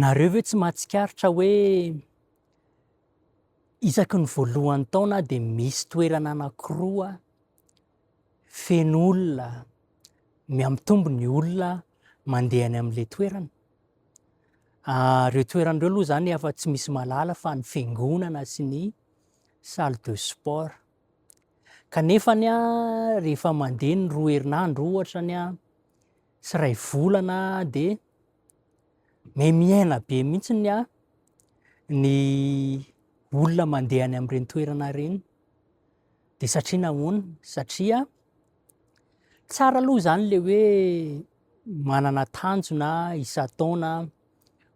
Nareo ve tsy mahatsikaritra hoe isaky ny voalohan'ny taona dia misy toerana anankiroa feno olona, miamitombo ny olona mandeha any amin'ilay toerana. Ah, ireo toerana ireo aloha izany efa tsy misy malala fa ny fiangonana sy ny salle de sport. Kanefa ny rehefa mandeha ny roa herinandro ohatra ny sy iray volana dia mihamihaina be mihitsy ny ahy ny olona mandeha any amin'ireny toerana ireny. Dia satria nahoana? Satria tsara aloha izany le hoe manana tanjona isan-taona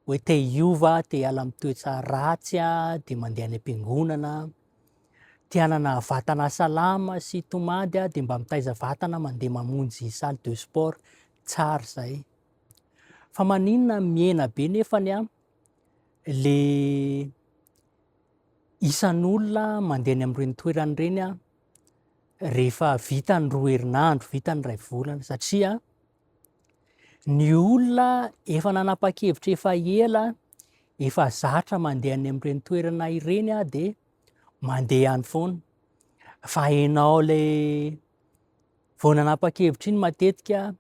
hoe te hiova, te hiala amin'ny toetra ratsy dia mandeha any am-piangonana. Tianana vatana salama sy tomady dia mba mitaiza vatana mandeha mamonjy salle de sport tsara izay. Fa maninona mihena be nefa ny le isan'olona mandeha any amin'ireny toerana ireny rehefa vita ny roa herinandro, vita ny iray volana satria Ny olona efa nanapa-kevitra efa ela, efa zatra mandeha any amin'ireny toerana ireny dia mandeha any foana. Fa ianao ilay vao nanapa-kevitra iny matetika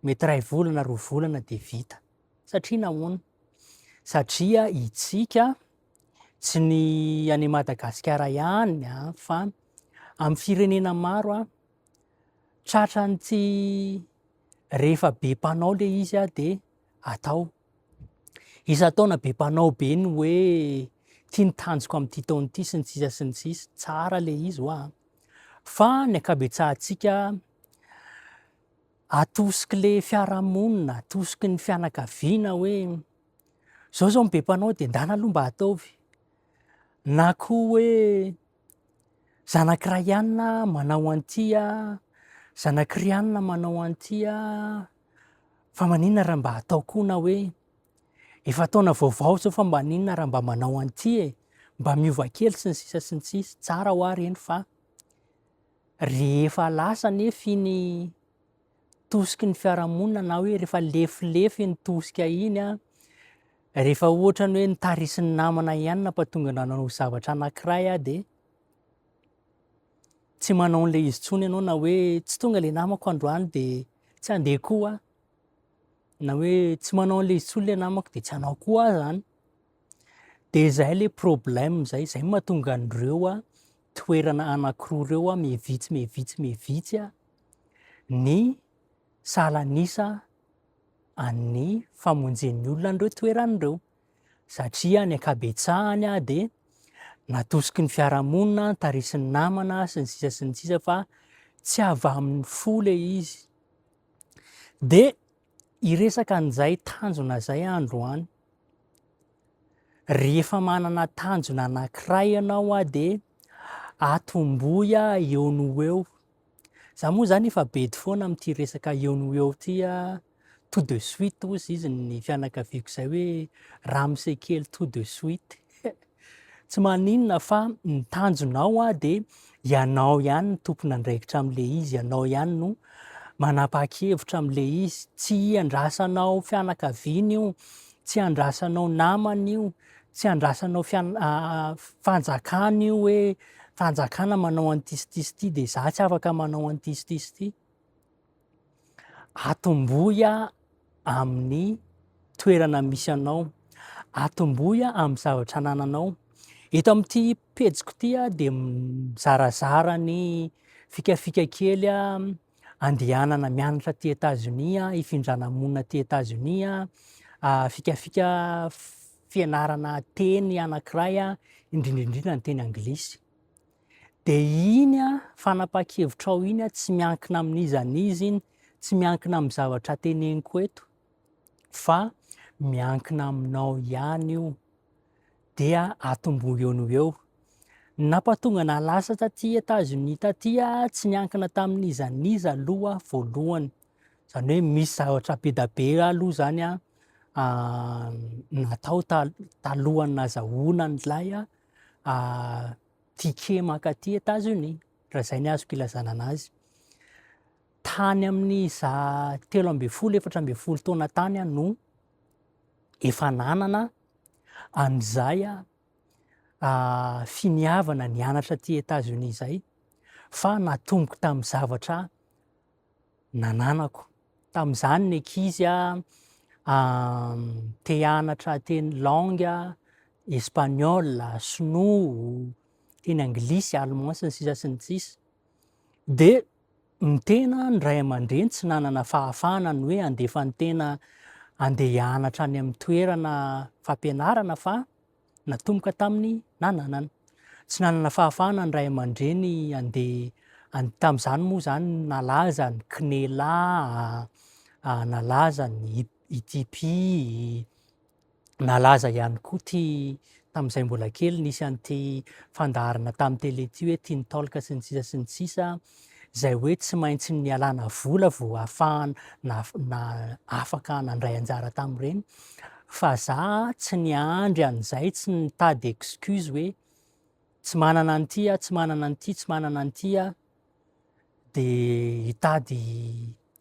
mety iray volana, roa volana dia vita. Satria nahoana? Satria itsika tsy ny any Madagasikara ihany fa amin'ny firenena maro tratran'ny tsy rehefa be mpanao le izy ah de atao isan-taona be mpanao be ny hoe ty ny tanjoko amin'ity taona ity sy ny sisa sy ny sisa tsara le izy hoa fa ny ankabetsahantsika atosiky le fiarahamonina atosiky ny fianakaviana hoe zao zao ny be mpanao de ndana aloha mba ataovy na koa hoe Zanak'i Ryan manao an'ity a, zanak'i Ryan manao an'ity a, fa maninona raha mba atao koa na hoe efa taona vaovao izao fa mba maninona raha mba manao an'ity e, mba miova kely sy ny sisa sy ny sisa, tsara hoa ireny fa rehefa lasa anefa iny tosiky ny fiarahamonina na hoe rehefa lefilefy iny tosika iny a rehefa ohatra ny hoe nitarisin'ny namana ihany nampatonga anao nanao zavatra anankiray a dia tsy manao an'ilay izy tsony ianao na hoe tsy tonga ilay namako androany dia tsy handeha koa na hoe tsy manao an'ilay izy tsony ilay namako dia tsy hanao koa zany Dia zay le problème zay, zay mahatonga an'ireo toerana anankiroa ireo mihevitsy mihevitsy mihevitsy ny salan'isa an'ny famonjen'ny olona an'ireo toerana ireo. Satria ny ankabetsahany dia natosiky ny fiarahamonina, tarisin'ny namana sy ny sisa sy ny sisa fa tsy avy amin'ny fo le izy. Dia hiresaka an'izay tanjona izay aho androany. Rehefa manana tanjona anankiray ianao aho dia atombohy aho eo no eo. Za moa zany efa bedy foana amin'ity resaka eo no eo ity aho. Tout de suite hozy izy ny fianakaviako izay hoe ramose kely tout de suite. Tsy maninona fa ny tanjonao dia ianao ihany no tompon'andraikitra amin'ilay izy, ianao ihany no manapa-kevitra amin'ilay izy, tsy andrasanao fianakaviana io, tsy andrasanao namana io, tsy andrasanao fanjakana io hoe fanjakana manao an'ity sy ity sy ity dia izaho tsy afaka manao an'ity sy ity sy ity. Atombohy amin'ny toerana misy anao, atombohy amin'ny zavatra anananao. Eto amin'ity pejiko ity dia mizarazara ny fikafika kely andehanana mianatra aty Etazonia, hifindrana monina aty Etazonia, fikafika fianarana teny anankiray, indrindra indrindra ny teny anglisy. Dia iny fanapahan-kevitrao iny tsy miankina amin'iza n'iza iny, tsy miankina amin'ny zavatra teneniko eto fa miankina aminao ihany io. Dia atomboy eo no eo. Nampatonga na lasa taty Etazonia taty tsy niankina tamin'iza n'iza aloha voalohany. Izany hoe misy zavatra be dia be aloha izany natao talohan'ny nazahoana an'ilay ah, tiquet mankaty États-Unis, raha izay ny azoko ilazana anazy. Tany amin'ny za telo ambin'ny folo, efatra ambin'ny folo taona tany aho no efa nanana an'izay ah, ah, finiavana nianatra aty États-Unis izay, fa natomboko tamin'ny zavatra nananako. Tamin'izany ny ankizy te hianatra teny langue espagnol, sinoa, teny anglisy, allemand sy ny sisa sy ny sisa. Dia ny tena ny ray aman-dreny tsy nanana fahafahana ny hoe handefa ny tena handeha hianatra any amin'ny toerana fampianarana fa natomboka tamin'ny nananany. Tsy nanana fahafahana ny ray aman-dreny handeha tamin'izany moa izany nalaza ny CNELA, nalaza ny ITP, nalaza ihany koa ity tamin'izay mbola kely nisy an'ity fandaharana tamin'ny tele ity hoe Teen Talk sy ny sisa sy ny sisa. izay hoe tsy maintsy nialana vola vao hahafahana na afaka nandray anjara tamin'ireny fa za tsy niandry an'izay tsy nitady excuse hoe tsy manana an'ity aho tsy manana an'ity tsy manana an'ity aho dia hitady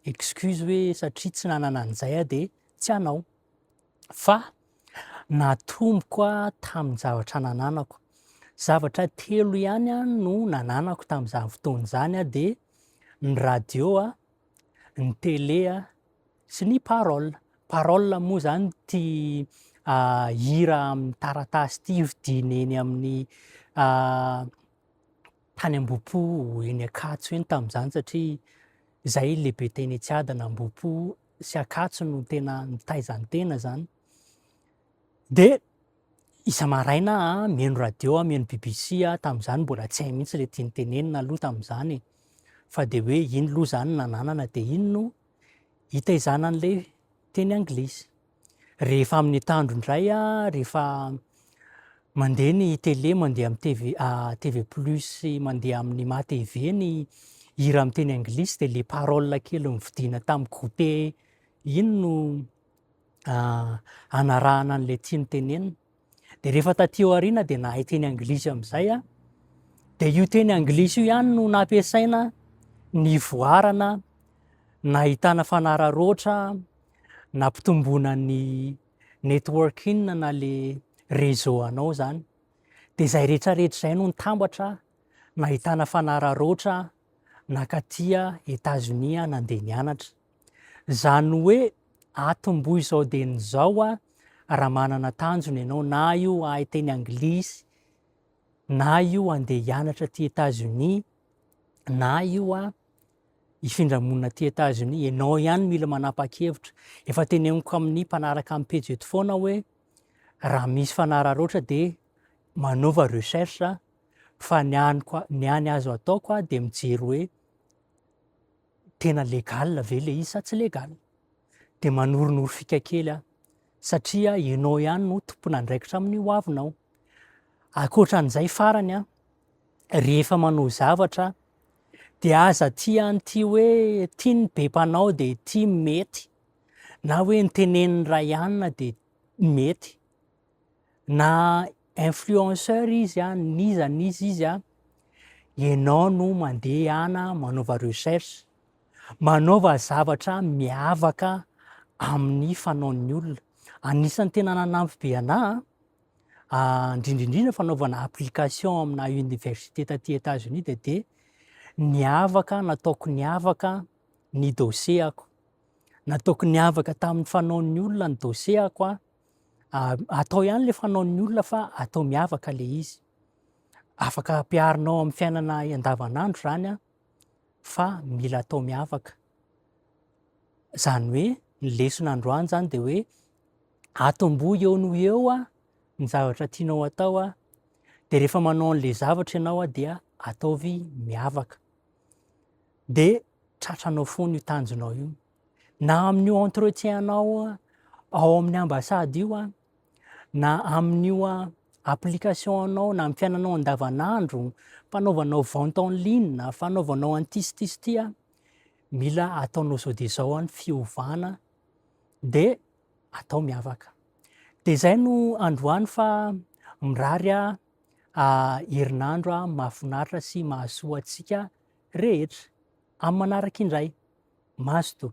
excuse hoe satria tsy nanana an'izay aho dia tsy hanao fa natomboko tamin'ny zavatra nananako. Zavatra telo ihany no nananako tamin'izany fotoana izany dia ny radio, ny télé sy ny parole. Parole moa izany ity hira amin'ny taratasy ity hofidiana eny amin'ny tany Ambohipo eny Ankatso eny tamin'izany satria izahay lehibe teny Tsiadana Ambohipo. sy Ankatso no tena mitaiza ny tena zany dia isa maraina a mihaino radio a mihaino BBC a tamin'izany mbola tsy hay mihitsy ilay tiany tenenina aloha tamin'izany e. fa dia hoe iny loha zany nananana dia iny no hitaizana an'ilay teny anglisy rehefa amin'ny tandro indray a rehefa Mandeha ny télé, mandeha amin'ny TV, TV plus sy mandeha amin'ny ma TV ny hira amin'ny teny anglisy dia ilay paroles kely novidiana tamin'ny goûter iny no hanarahana an'ilay tiany tenenina. Dia rehefa taty aoriana dia nahay teny anglisy amin'izay aho. Dia io teny anglisy io ihany no nampiasaina nivoarana, nahitana fanararaotra, nampitomboana ny networking na le réseau anao zany de zay retraretra zay no nitambatra nahitana fanararoatra nakatia Etazonia nandeha nianatra zany hoe atomboy izao de ny zao a raha manana tanjona ianao na io ahay teny anglisy na io andeha hianatra aty Etazonia na io a hifindra monina aty Etazonia, ianao ihany mila manapa-kevitra. Efa teneniko amin'ny mpanaraka amin'ny pejy eto foana hoe raha misy fanararaotra dia manova recherche aho fa ny aniko ny any azo ataoko aho dia mijery hoe tena legal ve le izy sa tsy legal dia manoronoro fika kely aho satria ianao ihany no tompon'andraikitra amin'ny hoavinao ankoatra an'izay farany aho rehefa manao zavatra dia aza tia an'ity hoe tia ny be mpanao dia tia mety na hoe ny tenenin'ny ray anina dia mety na influenceur izy an n'iza n'iza izy an ianao no mandeha ana manaova recherche manaova zavatra miavaka amin'ny fanaon'ny olona anisan'ny tena nanampy be anà indrindra indrindra fanaovana application amina université taty Etats-Unis dia dia niavaka, nataoko niavaka ny dossier-ako. Nataoko niavaka tamin'ny fanaon'ny olona ny dossier-ako aho. Ah, atao ihany ilay fanaon'ny olona fa atao miavaka ilay izy. Afaka ampiharinao amin'ny fiainana andavanandro izany an. fa mila atao miavaka. Izany hoe ny lesona androany izany dia hoe atombo eo no eo ah, ny zavatra tianao atao ah, dia rehefa manao an'ilay zavatra ianao ah, dia ataovy miavaka. Dia tratranao foana io tanjonao io. Na amin'io entretien anao ao amin'ny ambassade io ah, na amin'io application-nao na amin'ny fiainanao andavanandro, fanaovanao vente en ligne, fanaovanao an'ity sy ity sy ity, mila ataonao izao dia izao ny fiovana dia atao miavaka. Dia izay no androany fa mirary herinandro mahafinaritra sy mahasoa antsika rehetra. Amin'ny manaraka indray, mazotoa.